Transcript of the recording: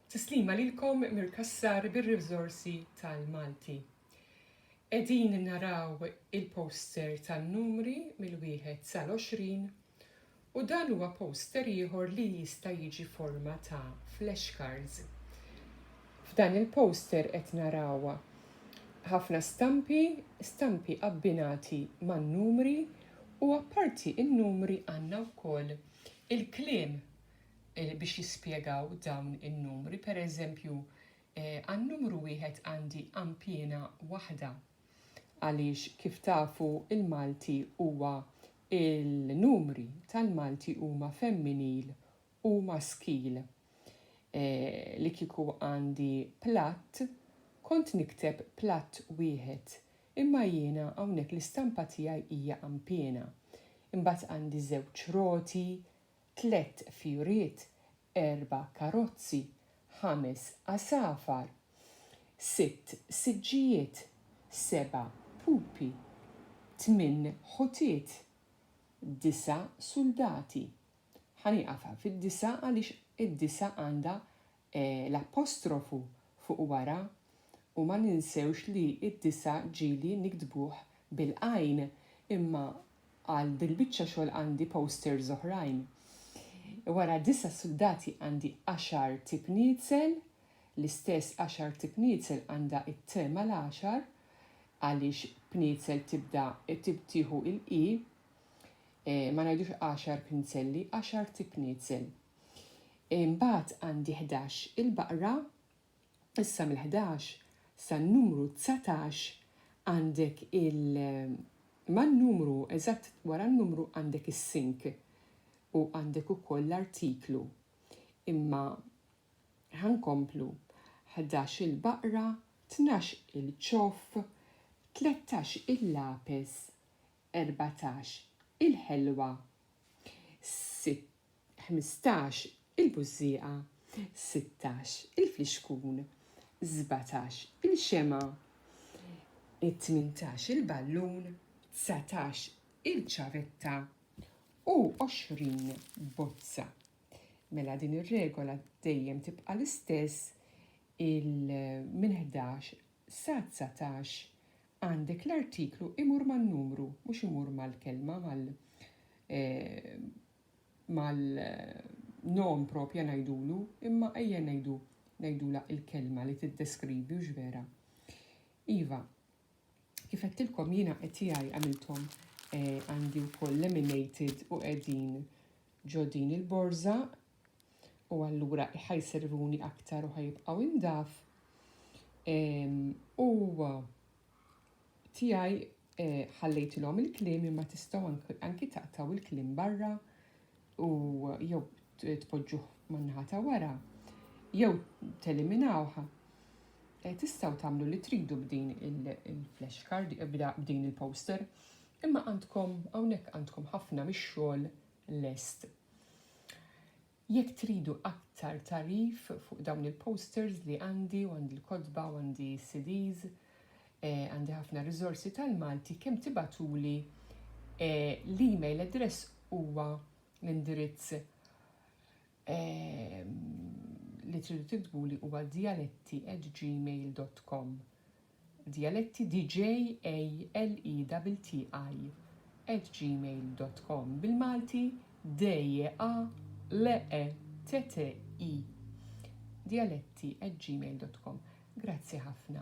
Tislima lilkom mir-Kassar bir-Riżorsi tal-Malti. Qegħdin naraw il-poster tan-numri mill-wieħed sal-għoxrin u dan huwa poster ieħor li jista' jiġi forma ta' flashcards. F'dan il-poster qed naraw ħafna stampi, stampi abbinati man-numri u apparti n-numri għandna wkoll Il-kliem biex jispjegaw dawn in-numri, per eżempju, għan-numru wieħed għandi għanpiena waħda. Għaliex kif tafu l-Malti huwa il-numri tal-Malti huma femminil u maskil. Li kieku għandi platt, kont nikteb platt wieħed, Imma jiena hawnhekk l-istampa tiegħi hija għampiena. Imbagħad għandi żewġ roti, tlett fjuriet, erba' karozzi, ħames għasafar, sitt siġġijiet, seba' pupi, tmien ħutiet, disa' suldati. Ħa nieqaf hawn fid-disa' għaliex id-disa' għandha l-apostrofu fuq wara u ma ninsewx li d-disa' ġieli niktbuh bil-għajn imma għal dil-biċċa xogħol għandi posters oħrajn. Wara disa' suldati għandi għaxar tipniezel, l-istess għaxar tipniezel għandha it-t mal-għaxar għaliex pniezel tibda tieħu l-q. Ma ngħidux għaxar pinzelli, għaxar tipniezel. Imbagħad għandi ħdax il-baqra, issa mill-ħdax san-numru dsatax għandek il man-numru eżatt wara n-numru għandek is-sink u għandek ukoll l-artiklu. Imma ħa nkomplu ħdax il-baqra, tnax il-ċoff, tlettax il-lapes, erbatax il-ħelwa, ħmistax il-bużżieqa, sittax il-flixkun, sbatax il-xemgħa, tmintax il-ballun, dsatax il-ċavetta u għoxrin bozza. Mela din ir-regola dejjem tibqa' l-istess il minn ħdax sa dsatax għandek l-artiklu imur man-numru mhux imur mal-kelma mal eh, mal-nom propja ngħidulu, imma ejja ngħidu ngħidula il-kelma li tiddeskrivi hux vera. Iva, kif għedtilkom jiena qed tiegħi għamilthom eh, għandi eh, wkoll laminated u qegħdin ġo din il-borża u allura ħajservuni aktar u ħajibqgħu indaf. U Tiegħi ħallejtilhom il-kliem imma tistgħu anki taqtgħu il-kliem barra u jew tpoġġuh man-naħa ta' wara jew teliminawh. Eh, tistgħu tagħmlu li tridu b'din il-flashcard, b'din il-poster, imma għandkom hawnhekk għandkom ħafna mix-xogħol lest. Jekk tridu aktar tagħrif fuq dawn il-posters li għandi u għandi l-kotba u għandi s-CDs, għandi ħafna riżorsi tal-Malti kemm tibagħtuli l-email address huwa l-indirizz li tridu tiktbuli huwa dialetti@gmail.com. Djaletti djallettiDJALETTI@gmail.com Bil-Malti DJALETTI djallettiGmail.com Grazzi ħafna.